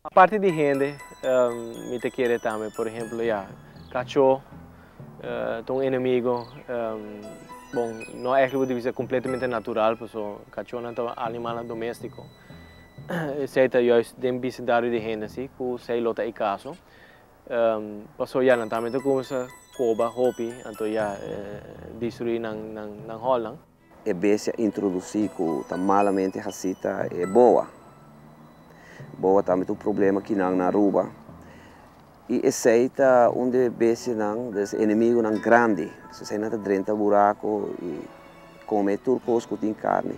Aparte di hende, mi ta kere tambe, por ehemplo, ya, kachó ta un enemigo, bon, no èk bo bisa kompletamente natural, pasobra kachónan ta animalnan doméstiko. Esei ta juist den bisitario di hende así ku esei lo ta e kaso. Pasobra ya, nan tambe ta kuminsá koba hopi, anto ya, destruí nan hòlnan. E bestia introdusí ku ta malamente hasí ta e boa. Boa ta ambit un problema ki nan na Aruba i esei ta un di e bestianan, di e enemigunan grandi. Esei nan ta drenta buraku i kome tur kos ku tin karni.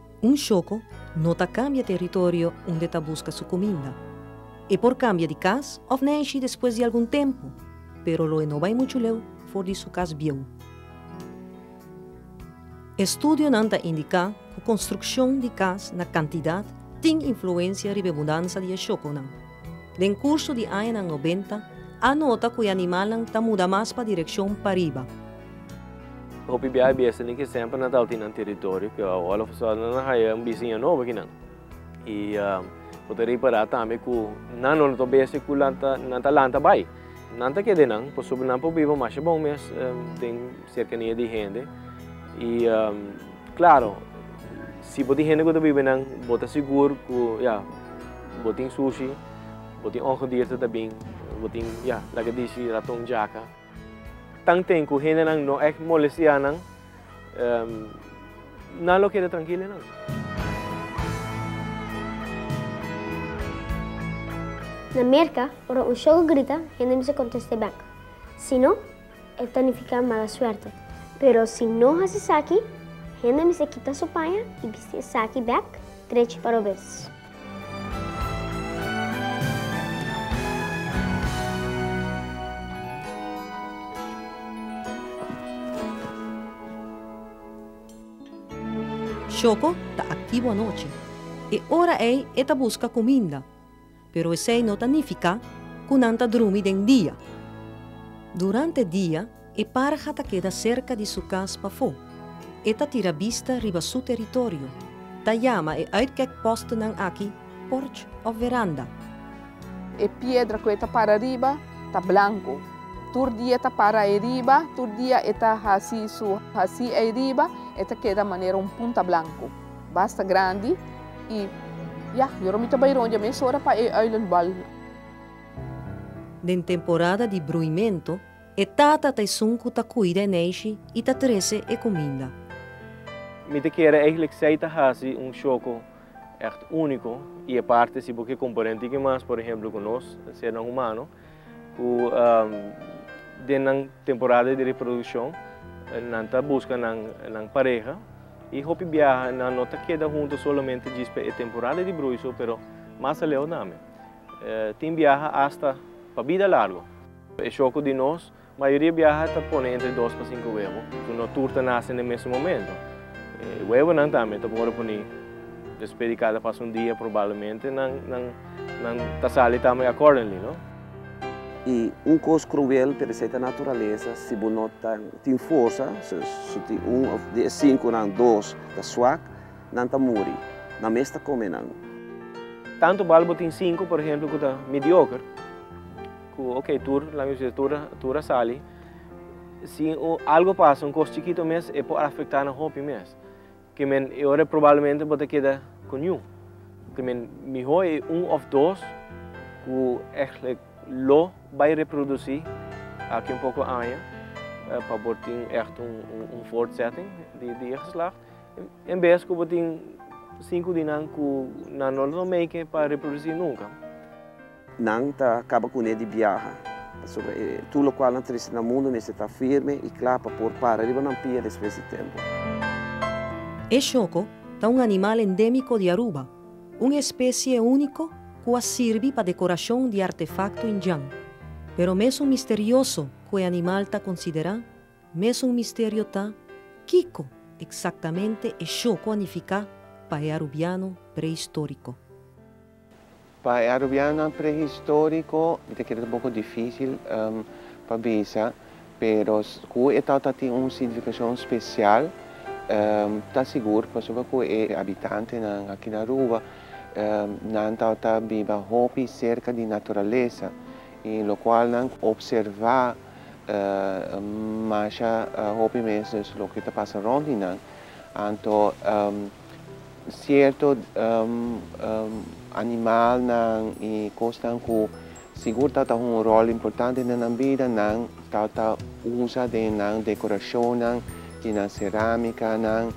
Un shoko no ta kambia teritorio unde ta buska su kuminda. E por kambia di kas òf nèshi despues di algun tempu, pero lo e no bai muchu leu for di su kas bieu. Estudionan ta indiká ku konstrukshon di kas na kantidat tin influensia riba e mudansa di e shokonan. Den kurso di añanan nobenta a nota ku e animalnan ta muda mas pa direkshon pariba. Hopi biaha e bestanan ke semper nan tabata di nan teritorio ke all of a sudden nan a haya un bisiña nobo aki nan. I bo ta repará tambe ku nan no ta besta ku nan ta lanta bai. Nan ta keda enan pasobra nan por biba masha bon mes den serkania di hende i. Klaro, si bo tin hende ku ta biba nan, bo ta sigur ku ya, bo tin sushi, bo tin ongedierten ta bin, bo tin, ya, laga dici raton, jaca. Tan ten ku hendenan no èk molestia nan, nan lo keda trankil di nan. Na Merka, ora un shogo grita, hende mester kontest'é bèk. Si no. E ta nifiká mala suerte. Pero si no hasi esaki, hende mester kita su paña i bisti esaki bèk drechi pa robes. Shoko ta aktivo anochi. E ora ei e ta buska kuminda. Pero esei no ta nifiká ku nan ta drumi den dia. Durante dia, e parha ta keda serka di su kas pafó. E ta tira bista riba su teritorio, ta yama e uitkèkpòstnan aki porch òf veranda. E piedra ku e ta para riba ta blanku. Tur dia e ta para ei riba, tur dia e ta hasi su hasi ei riba, e ta keda manera un punta blanku. Basta grandi y ya, yo Romy ta bay rond ya mes ora pa e island bal. Den temporada di bruimento, e tata ta esun cu ta cuida e neishi y ta trece e cuminda. Mi ta kere eigenlijk zij ta haci un choco echt unico y aparte si bo ke compará tin kimas por ejemplo cu nos senan humano ku den nan temporada di reproduccion nan ta busca nan pareha y hopi biaha nan no ta keda hunto solamente djis pa e temporada di bruiso pero mas aleu tambe tin biaha hasta pa bida largo. E shoku di nos. Mayoria biaha ta pone entre dos pa sinku webo, ku no tur ta nase n'e mesun momento. E webonan tambe ta por wòrdu puni despé di kada pas un dia, probablemente nan nan ta sali tambe accordingly, no? I un kos kruel pero esei ta naturalesa, si bo no ta tin forsa, so su di un òf di e sinkunan dos ta swak, nan ta muri, nan mes ta kome nan. Tantu bal bo tin sinku, por ehempel, ku ta midioker, Cu ok, tur, laga mi su tur, tur a sali. Si un algo pasa, un cos chikito mes, e por afecta nan hopi mes. Cu men e ora probablemente bo ta keda cu niun. Cu men miho e un of dos cu eigenlijk lo bay reproduci aki un poco aña pa bo tin echt un, un, un voortzetting di, di e geslacht. En bes cu bo tin cinco di nan cu nan no lo make pa reproduci nunca. Nan ta kaba kuné di biaha, pasobra e tur lokual nan tristi na mundu mester ta firme i kla pa por para riba nan pia despues di tempu. E shoko ta un animal endémiko di Aruba, un espesie úniko ku a sirbi pa dekorashon di artefakto indjan. Pero mesun misterioso ku e animal ta konsiderá, mes un misterio ta kiko eksaktamente e shoko a nifiká pa e arubiano preistóriko. Pa e arubianonan prehistoriko mi ta kere ta boko difisil pa bisa, pero ku e tau ta tin un signifikashon spesial ta sigur, pasobra ku e abitantenan aki na Aruba nan tau ta biba hopi serka di naturalesa i lokual nan opservá masha hopi mes loke ta pasa rònt di nan, anto. Sierto animalnan i kosnan ku sigur ta ta un ròl importante den nan bida, nan ta ta usa den nan dekorashonnan, di nan serámikanan,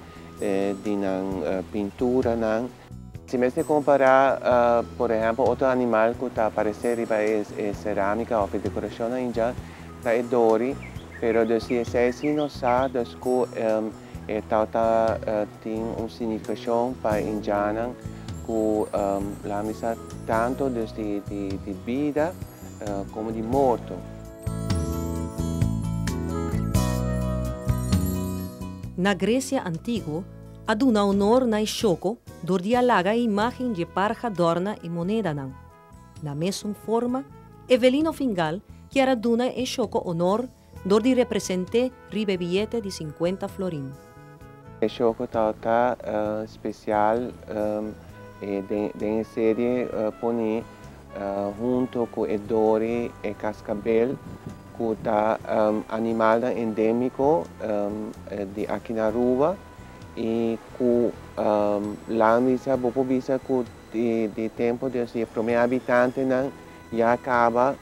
di nan pinturanan. Si mester kompará, por ehèmpel, otro animal ku ta aparesé riba e serámika òf e dekorashonnan ya, ta e dori. Pero si esei sí nos sa, dus ku E tauta tin un significacion pa indianan cu lamis sa tanto dus di bida como di morto. Na Grecia antiguo, a duna honor na e shoko dor di a laga e imagen dje parha dorna e monedanan. Na mesun forma, Evelino Fingal kier a duna e shoko honor Dor di represent'é riba e biyete di sinkuenta florin. E show ku ta ta spesial den e serie poni huntu ku e dori e kaskabel ku ta animalnan endemiko di aki na Aruba i ku lan bisa bo por bisa ku di tempu di e promé abitantenan ya kaba.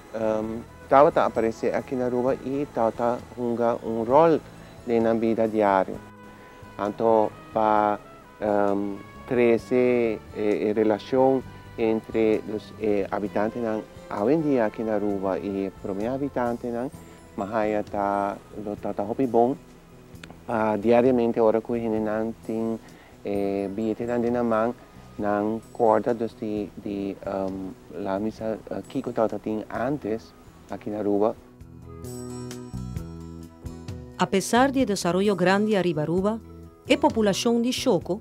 Tabata aparesé aki na Aruba i tabata hunga un ròl den nan bida diario. Anto pa trese e relashon entre dus e habitantenan awendia aki na Aruba i e promé habitantenan, Mahaya ta lo trata hopi bon. Diariamente ora cu hendenan tin e billetenan den nan man, nan corda dus di di la misa kico tawata tin antes aki na Aruba. Apesar di e desaroyo grandi ariba Aruba, e populacion di Choko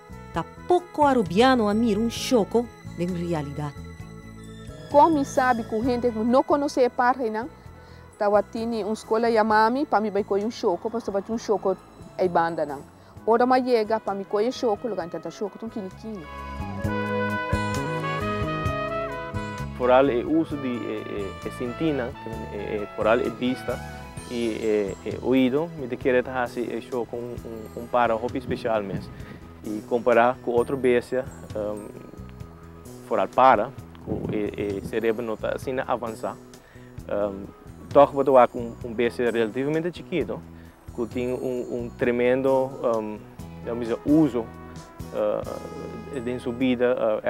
Ta poko arubiano a mira un shoko den rialidat. Kon mi sabi ku henter ku no konosé e parhenan tawatinni un skola yamami pa mi bai kohe un shoko paso tabatin un shoko ei bandanan? Ora mi a yega pa mi kohe e shoko loke antan ta shoko ta un kini kini. Foral e uso di e sintinan, foral e bista. Y e oido mi ta kere ta haci e show con un para hopi special mes. Y compara cu otro bestia, foral para, cu e cerebro no ta asina avansa, toch bo ta wak cu un bestia relativamente chikito, cu tin un tremendo, laga mi bisa, uso den su bida,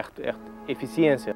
eficiencia.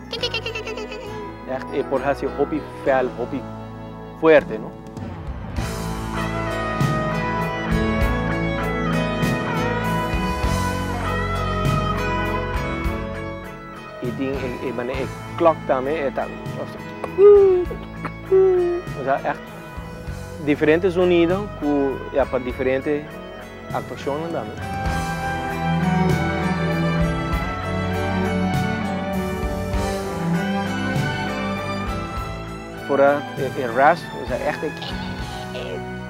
Echt e por hasi hopi fel, hopi fuerte no. I tin e manera e clock tambe e ta o sea echt diferente zonido cu ya pa diferente Actuacion nan dame. Fora e rasp nos a echte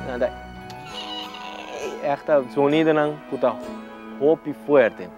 nan ta echte sonidonan cu ta hopi fuerte.